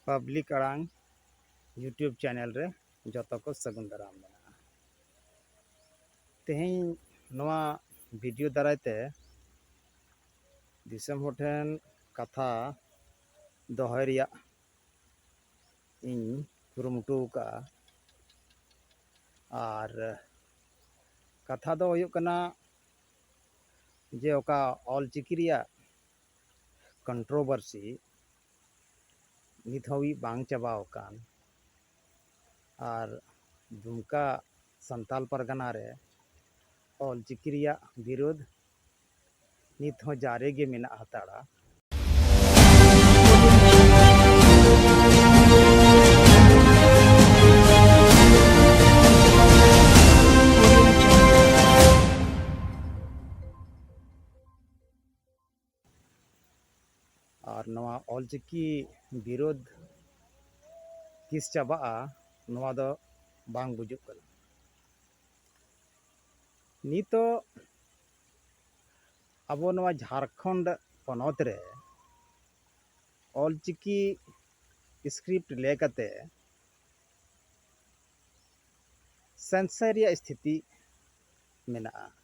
public ᱟᱲᱟᱝ YouTube channel ᱨᱮ ᱡᱚᱛᱚ ᱠᱚ ᱥᱟᱹᱜᱩᱱ ᱫᱟᱨᱟᱢ ᱢᱮᱱᱟᱜᱼᱟ ᱛᱮᱦᱮᱧ ᱱᱚᱣᱟ ᱵᱷᱤᱰᱤᱭᱳ ᱫᱟᱨᱟᱭ ᱛᱮ ᱫᱤᱥᱚᱢ ᱦᱚᱲ ᱴᱷᱮᱱ ᱠᱟᱛᱷᱟ ᱫᱚᱦᱚᱭ ᱨᱮᱭᱟᱜ ᱤᱧ ᱠᱩᱨᱩᱢᱩᱴᱩ ᱟᱠᱟᱫᱼᱟ ᱟᱨ ᱠᱟᱛᱷᱟ ᱫᱚ ᱦᱩᱭᱩᱜ ᱠᱟᱱᱟ ᱡᱮ ᱚᱠᱟ ᱚᱞᱪᱤᱠᱤ ᱨᱮᱭᱟᱜ ᱠᱚᱱᱴᱨᱚᱵᱟᱨᱥᱤ ᱱᱤᱛ ᱦᱟᱹᱵᱤᱡ ᱵᱟᱝ ᱪᱟᱵᱟ ᱟᱠᱟᱱ ᱟᱨ ᱫᱩᱢᱠᱟ ᱥᱟᱱᱛᱟᱲ ᱯᱟᱨᱜᱟᱱᱟ ᱨᱮ ᱚᱞ ᱪᱤᱠᱤ ᱨᱮᱭᱟᱜ ᱵᱤᱨᱳᱫᱷ ᱱᱤᱛ ᱦᱚᱸ ᱡᱟᱨᱮ ᱜᱮ ᱢᱮᱱᱟᱜ ᱦᱟᱛᱟᱲᱟ ᱟᱨ ᱱᱚᱣᱟ ᱚᱞᱪᱤᱠᱤ ᱵᱤᱨᱳᱫᱷ ᱛᱤᱥ ᱪᱟᱵᱟᱜᱼᱟ ᱱᱚᱣᱟ ᱫᱚ ᱵᱟᱝ ᱵᱩᱡᱩᱜ ᱠᱟᱱᱟ ᱱᱤᱛᱚᱜ ᱟᱵᱚ ᱱᱚᱣᱟ ᱡᱷᱟᱲᱠᱷᱚᱸᱰ ᱯᱚᱱᱚᱛ ᱨᱮ ᱚᱞᱪᱤᱠᱤ ᱥᱠᱨᱤᱯᱴ ᱞᱮ ᱠᱟᱛᱮ ᱥᱮᱱᱥᱟᱨ ᱨᱮᱭᱟᱜ ᱥᱛᱷᱤᱛᱤ ᱢᱮᱱᱟᱜᱼᱟ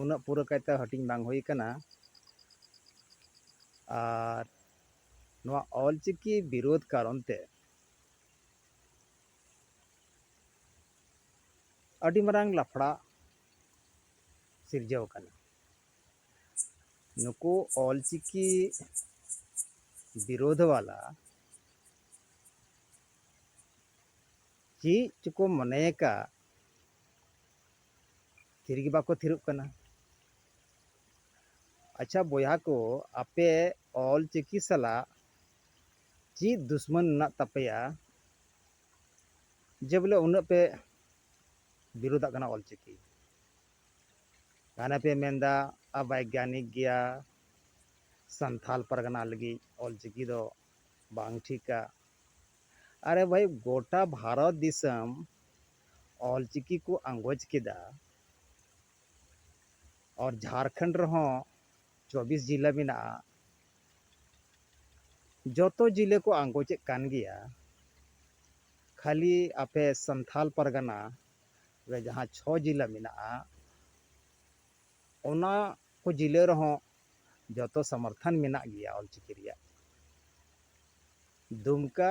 ᱩᱱᱟᱹᱜ ᱯᱩᱨᱟᱹ ᱠᱟᱭᱛᱮ ᱦᱟᱹᱴᱤᱧ ᱵᱟᱝ ᱦᱩᱭ ᱠᱟᱱᱟ ᱟᱨ ᱱᱚᱣᱟ ᱚᱞᱪᱤᱠᱤ ᱵᱤᱨᱳᱫᱷ ᱠᱟᱨᱚᱱ ᱛᱮ ᱟᱹᱰᱤ ᱢᱟᱨᱟᱝ ᱞᱟᱯᱷᱲᱟ ᱥᱤᱨᱡᱟᱹᱣ ᱠᱟᱱᱟ ᱱᱩᱠᱩ ᱚᱞᱪᱤᱠᱤ ᱵᱤᱨᱳᱫᱷ ᱣᱟᱞᱟ ᱪᱮᱫ ᱪᱚᱠᱚ ᱢᱚᱱᱮᱭᱟᱠᱟᱫ ᱛᱷᱤᱨᱜᱮ ᱵᱟᱠᱚ ᱛᱷᱤᱨᱚᱜ ᱠᱟᱱᱟ ᱟᱪᱪᱷᱟ ᱵᱚᱭᱦᱟ ᱠᱚ ᱟᱯᱮ ᱚᱞ ᱪᱤᱠᱤ ᱥᱟᱞᱟᱜ ᱪᱮᱫ ᱫᱩᱥᱢᱟᱱ ᱢᱮᱱᱟᱜ ᱛᱟᱯᱮᱭᱟ ᱡᱮ ᱵᱚᱞᱮ ᱩᱱᱟᱹᱜ ᱯᱮ ᱵᱤᱨᱳᱫᱟᱜ ᱠᱟᱱᱟ ᱚᱞ ᱪᱤᱠᱤ ᱜᱷᱟᱱᱮ ᱯᱮ ᱢᱮᱱᱫᱟ ᱵᱟᱭᱜᱟᱱᱤᱠ ᱜᱮᱭᱟ ᱥᱟᱱᱛᱷᱟᱞ ᱯᱟᱨᱜᱟᱱᱟ ᱞᱟᱹᱜᱤᱫ ᱚᱞ ᱪᱤᱠᱤ ᱫᱚ ᱵᱟᱝ ᱴᱷᱤᱠᱟ ᱟᱨᱮ ᱵᱷᱟᱹᱭ ᱜᱚᱴᱟ ᱵᱷᱟᱨᱚᱛ ᱫᱤᱥᱚᱢ ᱚᱞᱪᱤᱠᱤ ᱠᱚ ᱟᱸᱜᱚᱪ ᱠᱮᱫᱟ ᱟᱨ ᱡᱷᱟᱨᱠᱷᱚᱸᱰ ᱨᱮᱦᱚᱸ ᱪᱚᱵᱽᱵᱤᱥ ᱡᱮᱞᱟ ᱢᱮᱱᱟᱜᱼᱟ ᱡᱚᱛᱚ ᱡᱮᱞᱟ ᱠᱚ ᱟᱸᱜᱚᱪᱮᱫ ᱠᱟᱱ ᱜᱮᱭᱟ ᱠᱷᱟᱹᱞᱤ ᱟᱯᱮ ᱥᱟᱱᱛᱟᱲ ᱯᱟᱨᱜᱟᱱᱟ ᱨᱮ ᱡᱟᱦᱟᱸ ᱪᱷᱚ ᱡᱮᱞᱟ ᱢᱮᱱᱟᱜᱼᱟ ᱚᱱᱟ ᱠᱚ ᱡᱮᱞᱟ ᱨᱮᱦᱚᱸ ᱡᱚᱛᱚ ᱥᱚᱢᱚᱨᱛᱷᱚᱱ ᱢᱮᱱᱟᱜ ᱜᱮᱭᱟ ᱚᱞᱪᱤᱠᱤ ᱨᱮᱭᱟᱜ ᱫᱩᱢᱠᱟ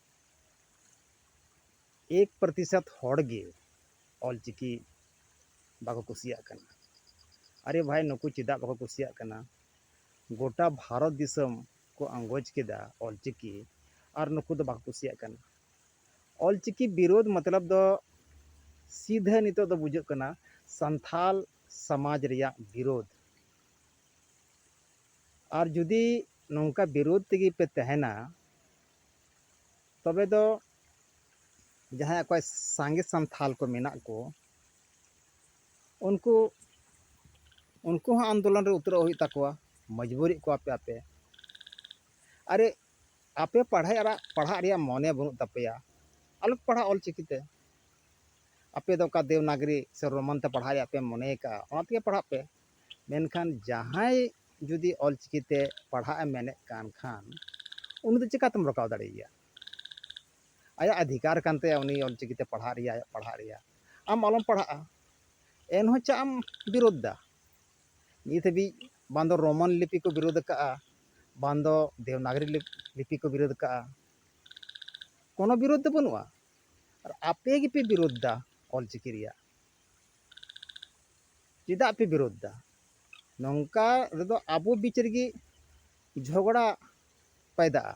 ᱮᱠ ᱯᱨᱚᱛᱤᱥᱚᱛ ᱦᱚᱲ ᱜᱮ ᱚᱞ ᱪᱤᱠᱤ ᱵᱟᱠᱚ ᱠᱩᱥᱤᱭᱟᱜ ᱠᱟᱱᱟ ᱟᱨᱮ ᱵᱷᱟᱭ ᱱᱩᱠᱩ ᱪᱮᱫᱟᱜ ᱵᱟᱠᱚ ᱠᱩᱥᱤᱭᱟᱜ ᱠᱟᱱᱟ ᱜᱚᱴᱟ ᱵᱷᱟᱨᱚᱛ ᱫᱤᱥᱚᱢ ᱠᱚ ᱟᱸᱜᱚᱪ ᱠᱮᱫᱟ ᱚᱞ ᱪᱤᱠᱤ ᱟᱨ ᱱᱩᱠᱩ ᱫᱚ ᱵᱟᱠᱚ ᱠᱩᱥᱤᱭᱟᱜ ᱠᱟᱱᱟ ᱚᱞ ᱪᱤᱠᱤ ᱵᱤᱨᱳᱫᱷ ᱢᱚᱛᱞᱚᱵ ᱫᱚ ᱥᱤᱫᱷᱟᱹ ᱱᱤᱛᱚᱜ ᱫᱚ ᱵᱩᱡᱷᱟᱹᱜ ᱠᱟᱱᱟ ᱥᱟᱱᱛᱷᱟᱞ ᱥᱚᱢᱟᱡᱽ ᱨᱮᱭᱟᱜ ᱵᱤᱨᱳᱫᱷ ᱟᱨ ᱡᱩᱫᱤ ᱱᱚᱝᱠᱟ ᱵᱤᱨᱳᱫᱷ ᱛᱮᱜᱮ ᱯᱮ ᱛᱟᱦᱮᱱᱟ ᱛᱚᱵᱮ ᱫᱚ ᱡᱟᱦᱟᱸᱭ ᱚᱠᱚᱭ ᱥᱟᱸᱜᱮ ᱥᱟᱱᱛᱷᱟᱞ ᱠᱚ ᱢᱮᱱᱟᱜ ᱠᱚ ᱩᱱᱠᱩ ᱩᱱᱠᱩ ᱦᱚᱸ ᱟᱱᱫᱳᱞᱚᱱ ᱨᱮ ᱩᱛᱨᱟᱹᱜ ᱦᱩᱭᱩᱜ ᱛᱟᱠᱚᱣᱟ ᱢᱚᱡᱽᱵᱩᱨᱤᱭᱮᱫ ᱠᱚᱣᱟ ᱯᱮ ᱟᱯᱮ ᱟᱨᱮ ᱟᱯᱮ ᱯᱟᱲᱦᱟᱜ ᱨᱮᱭᱟᱜ ᱯᱟᱲᱦᱟᱜ ᱨᱮᱭᱟᱜ ᱢᱚᱱᱮ ᱵᱟᱹᱱᱩᱜ ᱛᱟᱯᱮᱭᱟ ᱟᱞᱚ ᱯᱮ ᱯᱟᱲᱦᱟᱜᱼᱟ ᱚᱞ ᱪᱤᱠᱤ ᱛᱮ ᱟᱯᱮ ᱫᱚ ᱚᱠᱟ ᱫᱮᱵᱽᱱᱟᱜᱽᱨᱤ ᱥᱮ ᱨᱳᱢᱟᱱ ᱛᱮ ᱯᱟᱲᱦᱟᱜ ᱨᱮᱭᱟᱜ ᱯᱮ ᱢᱚᱱᱮ ᱟᱠᱟᱫᱼᱟ ᱚᱱᱟ ᱛᱮᱜᱮ ᱯᱟᱲᱦᱟᱜ ᱯᱮ ᱢᱮᱱᱠᱷᱟᱱ ᱡᱟᱦᱟᱸᱭ ᱡᱩᱫᱤ ᱚᱞ ᱪᱤᱠᱤ ᱛᱮ ᱯᱟᱲᱦᱟᱜ ᱮ ᱢᱮᱱᱮᱫ ᱠᱟᱱ ᱠᱷᱟᱱ ᱩᱱᱤ ᱫᱚ ᱪᱤᱠᱟᱹᱛᱮᱢ ᱨᱚᱠᱟᱣ ᱫᱟᱲᱮᱭᱟᱭᱟ ᱟᱭᱟᱜ ᱚᱫᱷᱤᱠᱟᱨ ᱠᱟᱱ ᱛᱟᱭᱟ ᱩᱱᱤ ᱚᱞ ᱪᱤᱠᱤ ᱛᱮ ᱯᱟᱲᱦᱟᱜ ᱨᱮᱭᱟᱜ ᱟᱭᱟᱜ ᱯᱟᱲᱦᱟᱜ ᱨᱮᱭᱟᱜ ᱟᱢ ᱟᱞᱚᱢ ᱯᱟᱲᱦᱟᱜᱼᱟ ᱮᱱᱦᱚᱸ ᱪᱮᱫ ᱮᱢ ᱵᱤᱨᱳᱫ ᱮᱫᱟ ᱱᱤᱛ ᱦᱟᱹᱵᱤᱡ ᱵᱟᱝ ᱫᱚ ᱨᱳᱢᱟᱱ ᱞᱤᱯᱤ ᱠᱚ ᱵᱤᱨᱳᱫ ᱟᱠᱟᱫᱼᱟ ᱵᱟᱝ ᱫᱚ ᱫᱮᱵᱽᱱᱟᱜᱚᱨᱤ ᱞᱤᱯᱤ ᱠᱚ ᱵᱤᱨᱳᱫ ᱟᱠᱟᱫᱼᱟ ᱠᱳᱱᱳ ᱵᱤᱨᱳᱫ ᱫᱚ ᱵᱟᱹᱱᱩᱜᱼᱟ ᱟᱨ ᱟᱯᱮ ᱜᱮᱯᱮ ᱵᱤᱨᱳᱫ ᱮᱫᱟ ᱚᱞ ᱪᱤᱠᱤ ᱨᱮᱭᱟᱜ ᱪᱮᱫᱟᱜ ᱯᱮ ᱵᱤᱨᱳᱫᱷ ᱮᱫᱟ ᱱᱚᱝᱠᱟ ᱨᱮᱫᱚ ᱟᱵᱚ ᱵᱤᱪ ᱨᱮᱜᱮ ᱡᱷᱚᱜᱽᱲᱟ ᱯᱟᱭᱫᱟᱜᱼᱟ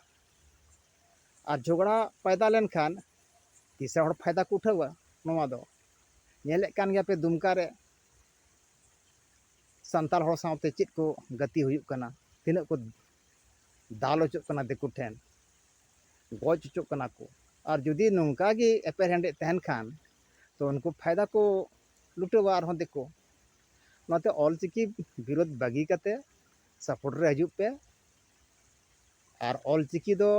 ᱟᱨ ᱡᱷᱚᱜᱽᱲᱟ ᱯᱟᱭᱫᱟ ᱞᱮᱱᱠᱷᱟᱱ ᱛᱤᱥᱟᱹ ᱦᱚᱲ ᱯᱷᱟᱭᱫᱟ ᱠᱚ ᱩᱴᱷᱟᱹᱣᱟ ᱱᱚᱣᱟ ᱫᱚ ᱧᱮᱞᱮᱫ ᱠᱟᱱ ᱜᱮᱭᱟ ᱯᱮ ᱫᱩᱢᱠᱟ ᱨᱮ ᱥᱟᱱᱛᱟᱲ ᱦᱚᱲ ᱥᱟᱶᱛᱮ ᱪᱮᱫ ᱠᱚ ᱜᱟᱛᱮ ᱦᱩᱭᱩᱜ ᱠᱟᱱᱟ ᱛᱤᱱᱟᱹᱜ ᱠᱚ ᱫᱟᱞ ᱦᱚᱪᱚᱜ ᱠᱟᱱᱟ ᱫᱤᱠᱩ ᱴᱷᱮᱱ ᱜᱚᱡ ᱦᱚᱪᱚᱜ ᱠᱟᱱᱟ ᱠᱚ ᱟᱨ ᱡᱩᱫᱤ ᱱᱚᱝᱠᱟ ᱜᱮ ᱮᱯᱮᱨᱦᱮᱸᱰᱮᱡ ᱛᱟᱦᱮᱱ ᱠᱷᱟᱱ ᱛᱚ ᱩᱱᱠᱩ ᱯᱷᱟᱭᱫᱟ ᱠᱚ ᱞᱩᱴᱟᱹᱣᱟ ᱟᱨᱦᱚᱸ ᱫᱤᱠᱩ ᱚᱱᱟᱛᱮ ᱚᱞ ᱪᱤᱠᱤ ᱵᱤᱨᱳᱫᱷ ᱵᱟᱹᱜᱤ ᱠᱟᱛᱮ ᱥᱟᱯᱳᱨᱴ ᱨᱮ ᱦᱤᱡᱩᱜ ᱯᱮ ᱟᱨ ᱚᱞ ᱪᱤᱠᱤ ᱫᱚ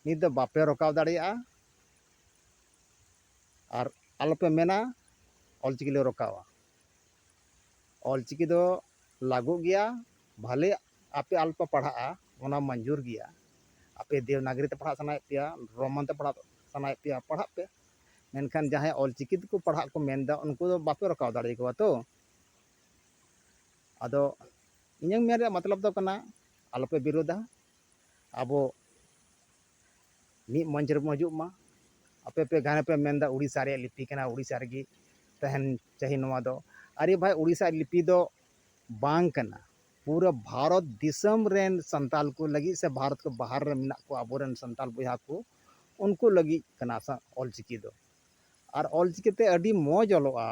ᱱᱤᱛ ᱫᱚ ᱵᱟᱯᱮ ᱨᱚᱠᱟᱣ ᱫᱟᱲᱮᱭᱟᱜᱼᱟ ᱟᱨ ᱟᱞᱚᱯᱮ ᱢᱮᱱᱟ ᱚᱞ ᱪᱤᱠᱤ ᱞᱮ ᱨᱚᱠᱟᱣᱟ ᱚᱞ ᱪᱤᱠᱤ ᱫᱚ ᱞᱟᱹᱜᱩᱜ ᱜᱮᱭᱟ ᱵᱷᱟᱞᱮ ᱟᱯᱮ ᱟᱞᱚᱯᱮ ᱯᱟᱲᱦᱟᱜᱼᱟ ᱚᱱᱟ ᱢᱚᱧᱡᱩᱨ ᱜᱮᱭᱟ ᱟᱯᱮ ᱫᱮᱵᱽᱱᱟᱜᱚᱨᱤ ᱛᱮ ᱯᱟᱲᱦᱟᱜ ᱥᱟᱱᱟᱭᱮᱫ ᱯᱮᱭᱟ ᱨᱳᱢᱟᱱ ᱛᱮ ᱯᱟᱲᱦᱟᱜ ᱥᱟᱱᱟᱭᱮᱫ ᱯᱮᱭᱟ ᱯᱟᱲᱦᱟᱜ ᱯᱮ ᱢᱮᱱᱠᱷᱟᱱ ᱡᱟᱦᱟᱸᱭ ᱚᱞᱪᱤᱠᱤ ᱛᱮᱠᱚ ᱯᱟᱲᱦᱟᱜ ᱠᱚ ᱢᱮᱱᱫᱟ ᱩᱱᱠᱩ ᱫᱚ ᱵᱟᱯᱮ ᱨᱚᱠᱟᱣ ᱫᱟᱲᱮ ᱠᱚᱣᱟ ᱛᱚ ᱟᱫᱚ ᱤᱧᱟᱹᱝ ᱢᱮᱱ ᱨᱮᱭᱟᱜ ᱢᱚᱛᱞᱚᱵ ᱫᱚ ᱠᱟᱱᱟ ᱟᱞᱚᱯᱮ ᱵᱤᱨᱳᱫᱟ ᱟᱵᱚ ᱢᱤᱫ ᱢᱚᱧᱪ ᱨᱮᱵᱚᱱ ᱦᱤᱡᱩᱜ ᱢᱟ ᱟᱯᱮ ᱯᱮ ᱜᱷᱟᱱᱮ ᱯᱮ ᱢᱮᱱᱫᱟ ᱩᱲᱤᱥᱥᱟ ᱨᱮᱭᱟᱜ ᱞᱤᱯᱤ ᱠᱟᱱᱟ ᱩᱲᱤᱥᱥᱟ ᱨᱮᱜᱮ ᱛᱟᱦᱮᱱ ᱪᱟᱹᱦᱤ ᱱᱚᱣᱟ ᱫᱚ ᱟᱨᱮ ᱵᱷᱟᱭ ᱩᱲᱤᱥᱥᱟ ᱞᱤᱯᱤ ᱫᱚ ᱵᱟᱝ ᱠᱟᱱᱟ ᱯᱩᱨᱟᱹ ᱵᱷᱟᱨᱚᱛ ᱫᱤᱥᱚᱢ ᱨᱮᱱ ᱥᱟᱱᱛᱟᱲ ᱠᱚ ᱞᱟᱹᱜᱤᱫ ᱥᱮ ᱵᱷᱟᱨᱚᱛ ᱠᱷᱚᱱ ᱵᱟᱦᱟᱨ ᱨᱮ ᱢᱮᱱᱟᱜ ᱠᱚᱣᱟ ᱟᱵᱚ ᱨᱮᱱ ᱥᱟᱱᱛᱟᱲ ᱵᱚᱭᱦᱟ ᱠᱚ ᱩᱱᱠᱩ ᱞᱟᱹᱜᱤᱫ ᱠᱟᱱᱟ ᱚᱞ ᱪᱤᱠᱤ ᱫᱚ ᱟᱨ ᱚᱞ ᱪᱤᱠᱤ ᱛᱮ ᱟᱹᱰᱤ ᱢᱚᱡᱽ ᱚᱞᱚᱜᱼᱟ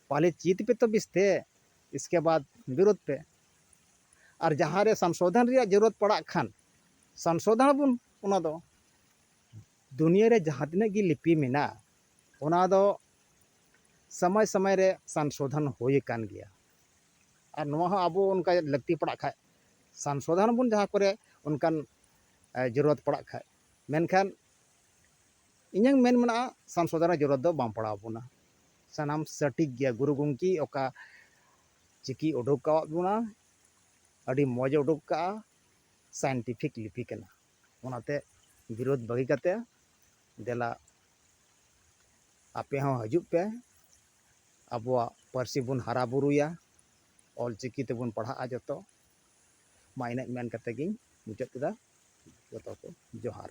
ᱯᱟᱦᱞᱮ ᱪᱮᱫ ᱯᱮ ᱛᱚ ᱵᱮᱥ ᱛᱮ ᱤᱥᱠᱮ ᱵᱟᱫᱽ ᱵᱤᱨᱳᱫᱷ ᱯᱮ ᱟᱨ ᱡᱟᱦᱟᱸ ᱨᱮ ᱥᱚᱝᱥᱳᱫᱷᱚᱱ ᱨᱮᱭᱟᱜ ᱡᱟᱹᱨᱩᱲᱟᱹᱛ ᱯᱟᱲᱟᱜ ᱠᱷᱟᱱ ᱥᱚᱝᱥᱳᱫᱷᱚᱱ ᱟᱵᱚᱱ ᱚᱱᱟ ᱫᱚ ᱫᱩᱱᱤᱭᱟᱹ ᱨᱮ ᱡᱟᱦᱟᱸ ᱛᱤᱱᱟᱹᱜ ᱜᱮ ᱞᱤᱯᱤ ᱢᱮᱱᱟᱜᱼᱟ ᱚᱱᱟ ᱫᱚ ᱥᱚᱢᱚᱭ ᱥᱚᱢᱚᱭ ᱨᱮ ᱥᱚᱝᱥᱳᱫᱷᱚᱱ ᱦᱩᱭ ᱟᱠᱟᱱ ᱜᱮᱭᱟ ᱟᱨ ᱱᱚᱣᱟ ᱦᱚᱸ ᱟᱵᱚ ᱚᱱᱠᱟ ᱞᱟᱹᱠᱛᱤ ᱯᱟᱲᱟᱜ ᱠᱷᱟᱱ ᱥᱚᱝᱥᱳᱫᱷᱚᱱ ᱟᱵᱚᱱ ᱡᱟᱦᱟᱸ ᱠᱚᱨᱮ ᱚᱱᱠᱟᱱ ᱡᱚᱨᱩᱨᱚᱛ ᱯᱟᱲᱟᱜ ᱠᱷᱟᱱ ᱢᱮᱱᱠᱷᱟᱱ ᱤᱧᱟᱹᱝ ᱢᱮᱱ ᱢᱮᱱᱟᱜᱼᱟ ᱥᱚᱝᱥᱳᱫᱷᱚᱱ ᱨᱮᱭᱟᱜ ᱡᱚᱨᱩᱨᱚᱛ ᱫᱚ ᱵᱟᱝ ᱯᱟᱲᱟᱣ ᱟᱵᱚᱱᱟ ᱥᱟᱱᱟᱢ ᱥᱚᱴᱷᱤᱠ ᱜᱮᱭᱟ ᱜᱩᱨᱩ ᱜᱚᱢᱠᱮ ᱚᱠᱟ ᱪᱤᱠᱤ ᱩᱰᱩᱠ ᱟᱠᱟᱫ ᱵᱚᱱᱟ ᱟᱹᱰᱤ ᱢᱚᱡᱽ ᱮ ᱩᱰᱩᱠ ᱟᱠᱟᱫᱼᱟ ᱥᱟᱭᱮᱱᱴᱤᱯᱷᱤᱠ ᱞᱤᱯᱤ ᱠᱟᱱᱟ ᱚᱱᱟᱛᱮ ᱵᱤᱨᱳᱫ ᱵᱟᱹᱜᱤ ᱠᱟᱛᱮᱫ ᱫᱮᱞᱟ ᱟᱯᱮ ᱦᱚᱸ ᱦᱤᱡᱩᱜ ᱯᱮ ᱟᱵᱚᱣᱟᱜ ᱯᱟᱹᱨᱥᱤ ᱵᱚᱱ ᱦᱟᱨᱟ ᱵᱩᱨᱩᱭᱟ ᱚᱞ ᱪᱤᱠᱤ ᱛᱮᱵᱚᱱ ᱯᱟᱲᱦᱟᱜᱼᱟ ᱡᱚᱛᱚ ᱢᱟ ᱤᱱᱟᱹᱜ ᱢᱮᱱ ᱠᱟᱛᱮ ᱜᱮᱧ ᱢᱩᱪᱟᱹᱫ ᱠᱮᱫᱟ ᱡᱚᱛᱚ ᱠᱚ ᱡᱚᱦᱟᱨ